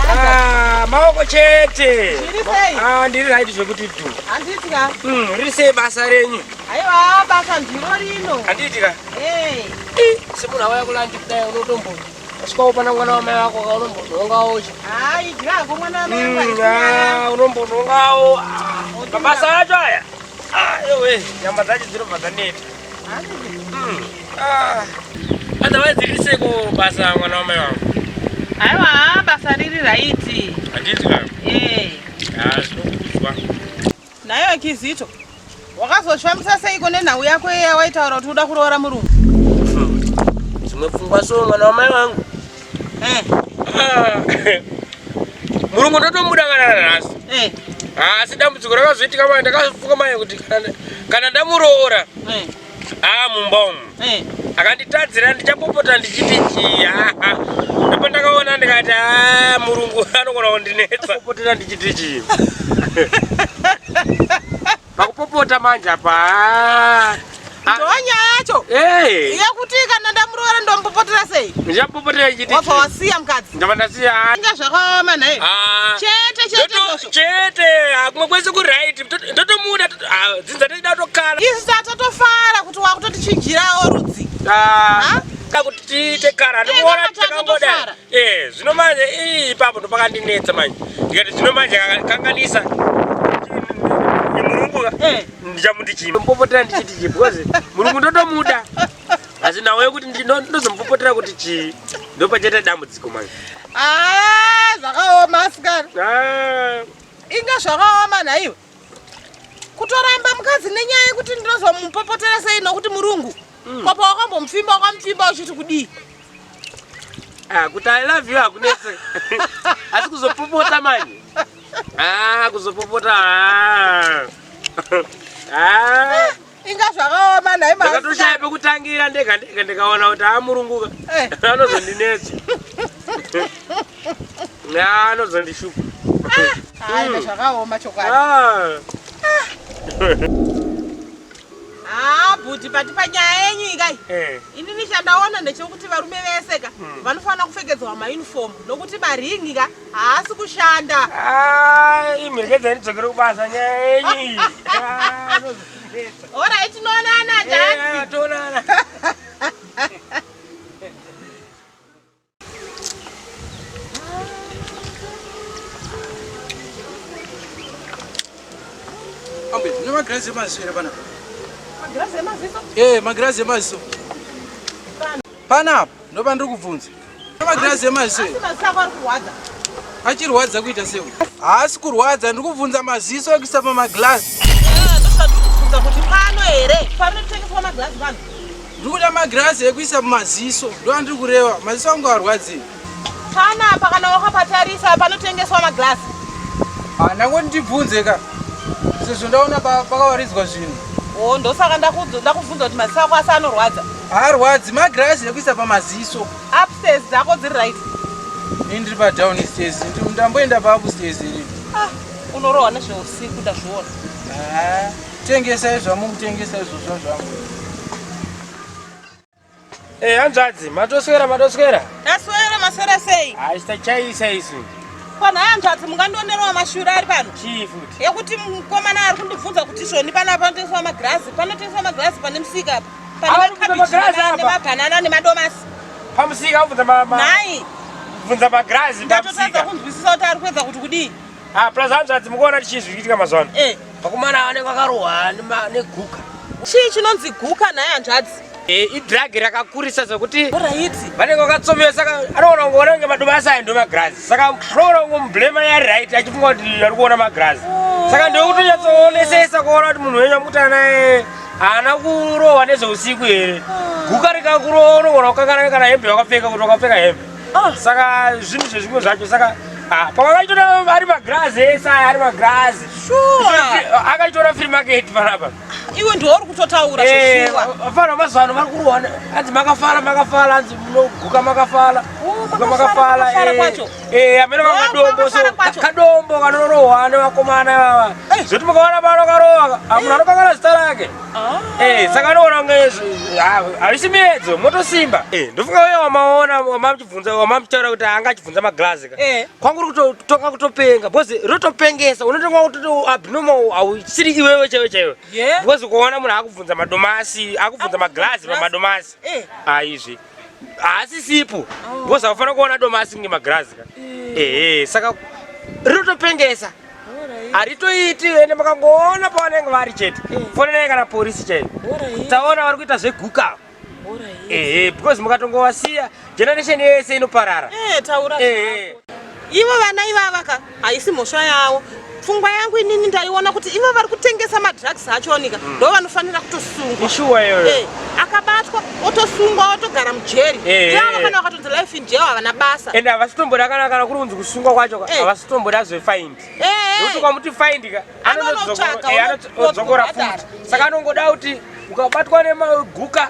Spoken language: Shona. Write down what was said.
Ah, maoko chete ah, ndiri raiti zvekuti du hmm, riri sei basa renyu aiwa basa ndiro rino handiitika semunhu awaya kulandi kudai unotombo asikaopana mwana wamai wako ka unombozongawo unombozongawo mabasa acho aya ewe nyama dzacho dzinobva dzaneta Ah, otherwise iri seko basa mwana wamai wangu aiwa basa riri raiti handiti ka ee Ah, zvinokuzwa naiwe kizito wakazozvifambisa seiko nenhau yako iya waitaura kuti uda kuroora murungu dzimwe pfungwa so mwana wamai wangu murungu ndotomuda kana nanhasi eh. asi dambudziko rakazoitika mai ndakafunga mai kuti kana ndamuroora eh. aa mumba umu eh. akanditadzira ndichapopota ndichiti chii ndipo ndakaona ndikati a murungu anogona kundinetsa popotera ndichiti chii Pakupopota manje apa. Ah. Ah. Ndonya yacho. Eh. Yakuti kana ndamuroora ndompopotera sei? Ndichapopotera chiti. Wafa wasiya mkadzi. Ndava ndasiya. Inga zvakaoma nhai. Ah. Chete chete zvosvo. Chete. Akumwe kwese ku right. Ndotomuda. Ah, dzinza toda kutokala. Isu tatofara kuti wakutotichinjirawo rudzi. Ah. Kuti tiite kara. Ndikuona kuti takamboda. eh zvino manje ii ipapo ndopakandinetsa manje ndikati zvino manje kanganisa murungu eh. ndichamuti chii mupopotera ndichiti chii because murungu ndotomuda asi nhau yekuti ndozomupopotera kuti chii ndopachaita dambudziko manje ah, zvakaoma asikana ah. inga zvakaoma nhaiwe kutoramba mukadzi nenyaya yekuti ndinozomupopotera sei nokuti murungu mm. kopa wakambomupfimba wakamupfimba uchiti kudii ah, kuti i love you hakunetse asi kuzopopota manje ah, kuzopopota ah. inga zvakaoma nhai ndakatoshaya pekutangira ndega ndega ndikaona kuti amurunguka eh. anozondinetsa anozondishupa ah, zvakaoma chokwadi ah. Ah, bhuti pati panyaya yenyu ikai eh. ini nichandaona ndechekuti varume vese ka hmm. vanofanira kupfekedzwa mauniform nokuti maringi ka haasi kushanda ah, imhekedzani dzokere kubasa nyaya yenyu ah, orai tinoonana datoonana ambe ne magirazi emaziso here panapa magirazi emaziso ee eh, magirazi emaziso panapa ndopandiri kubvunza Magirazi emazwi. Asi mazwi ako ari kurwadza. Achirwadza kuita sei? Haasi kurwadza, ndiri kubvunza maziso ekuisa pamagirazi. Eh, ndosati kubvunza kuti pano here? Panotengeswa magirazi pano. Ndiri kuda magirazi ekuisa mumaziso. Ndo andiri kureva. Maziso angu arwadzei? Pana apa kana wakapatarisa panotengeswa magirazi. Ah, ndangoti ndibvunze ka. Sezvo ndaona pakawaridzwa zvinhu. Oh, ndosaka ndakubvunza kuti maziso ako asi anorwadza. Haarwadzi magirazi ekuisa pamaziso. Upstairs dzako dziri right. Ini ndiri pa down stairs. Ndamboenda pa upstairs ini. Ah, unorohwa nezveusiku ndazviona. Ah, tengesai zvamukutengesa izvozvo zvangu. Eh, hanzvadzi, matoswera matoswera. Taswera maswera sei? Ah, chitachaisa isu. Pana hanzvadzi mungandionerwa mashura ari pano. Chii futi? Yekuti mukomana ari kundibvunza kuti izvoni panapa panotengeswa magirazi, panotengeswa magirazi pane musika apa. nemabhanana nemadomasi pamusika ubvunza mai bvunza magirazi ndatotadza kunzwisisa kuti ari kuedza kuti kudii ah, plus hanzvadzi mukuona tichii zviri kuitika mazuva ano eh. vakomana ava vanenge vakarohwa neguka chii chinonzi guka naye hanzvadzi eh, idragi rakakurisa zvekuti vanenge vakatsomewa saka anoona kunge vona kunge madomasi ayo ndomagirazi saka anoona kunge mublema yari right achifunga kuti ari kuona magirazi oh. saka ndokutonyatsoonesa isa kuona kuti munhu wenyu amukutana naye haana kurohwa nezveusiku here guka rikakurohwa unogona kukanganana kana hembe wakapfeka kuti wakapfeka hembe ah. saka zvinhu zvezvimwe zvacho saka ah, pavakachitora ari magirazi ese aya ari magirazi akachitora free market panapa iwe ndiwo uri kutotaura eh, vafana vemazuva ano vari kurohwa anzi makafala makafala anzi munoguka makafala oh, makafala eh. Eh, amene vakadombo so kadombo kanorohwa ane vakomana ivava eh. zvoti mukaona pano karohwa amuna anokangana zita rake ah. eh, saka anoona kunge harisi ah, miedzo motosimba eh, ndofunga uye wamaona wamamchibvunza wamamchitaura kuti anga achibvunza maglazi ka kwanguri kutotonga kutopenga bcause rotopengesa unotonga kutoti abnormal hausiri iwewe chaiwe chaiwe bcause ukaona munhu akubvunza madomasi akubvunza maglazi pamadomasi aizvi haasisipo because oh. akufanira kuona doma asingi magirazi ka eh. ehe saka rinotopengesa haritoiti ende makangoona pavanenge vari chete eh. fonenai kana porisi chaiyo taona vari kuita zveguka ehe because mukatongovasiya generation yese inoparara eh, ivo vana ivavaka haisi mhosva yawo pfungwa yangu inini ndaiona kuti ivo vari kutengesa madrugs acho onika mm. ndo vanofanira kutosungwa eh, akabatwa otosungwa otogara mujeri eh, eh, iavo kana vakatonzi life in jail havana basa ende havasitomboda kana kana kuri kunzi kusungwa kwacho havasitomboda zvefind nekuti kwamuti find ka anonodzokora futi saka anongoda kuti ukabatwa nemaguka